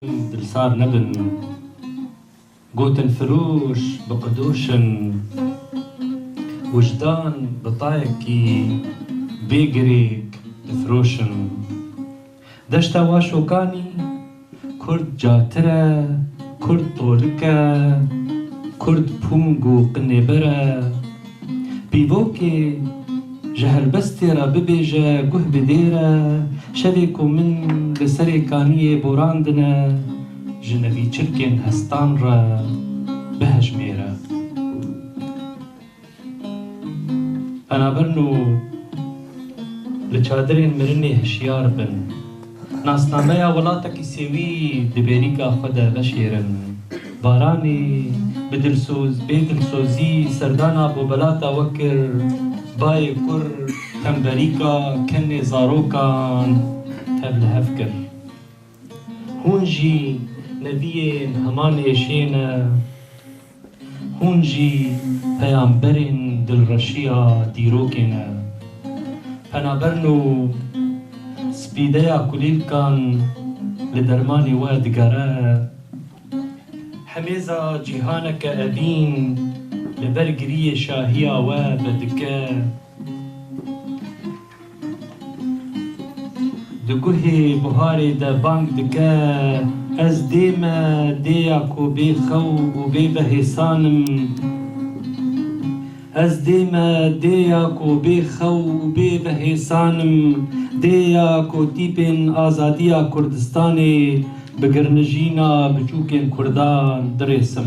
Dilsar nebin gotin firoş bi qidoşin Wijdan bi tayekî bê girêk difiroşin Deşta Waşokanî Kurd catir e Kurd tolik e Kurd pûng û qinêber e. Pîvokê, ji helbestê re bibêje guh bi dêr e, şevê ku min li serê kaniyê borandine, ji nevîçirkên hestan re bihejmêre. Penaberno li çadirên mirinê hişyar bin. Nasnameya welatekî sêwî di bêrîka xwe de veşêrin. Baranî bi dilsoz bê dilsozî serdana bobelata we kir, Bayê kur temverîka kenê zarokan tev li hev kir. Hûn jî neviyên heman êşê ne. Hûn jî peyamberên dilreşiya dîrokê ne. Penaberin û spîdeya kulîlkan li dermanê we digere. Hemêza cîhaneke evîn li ber giriyê şahiya we vedike. Di guhê buharê de bang dike, Ez dê me, dê ya ku bê xew û bê vehêsan im. Ez dê me, dê ya ku bê xew û bê vehêsan im, dê ya ku tîpên azadiya Kurdistanê bi girnijîna biçûkên Kurdan dirêsim.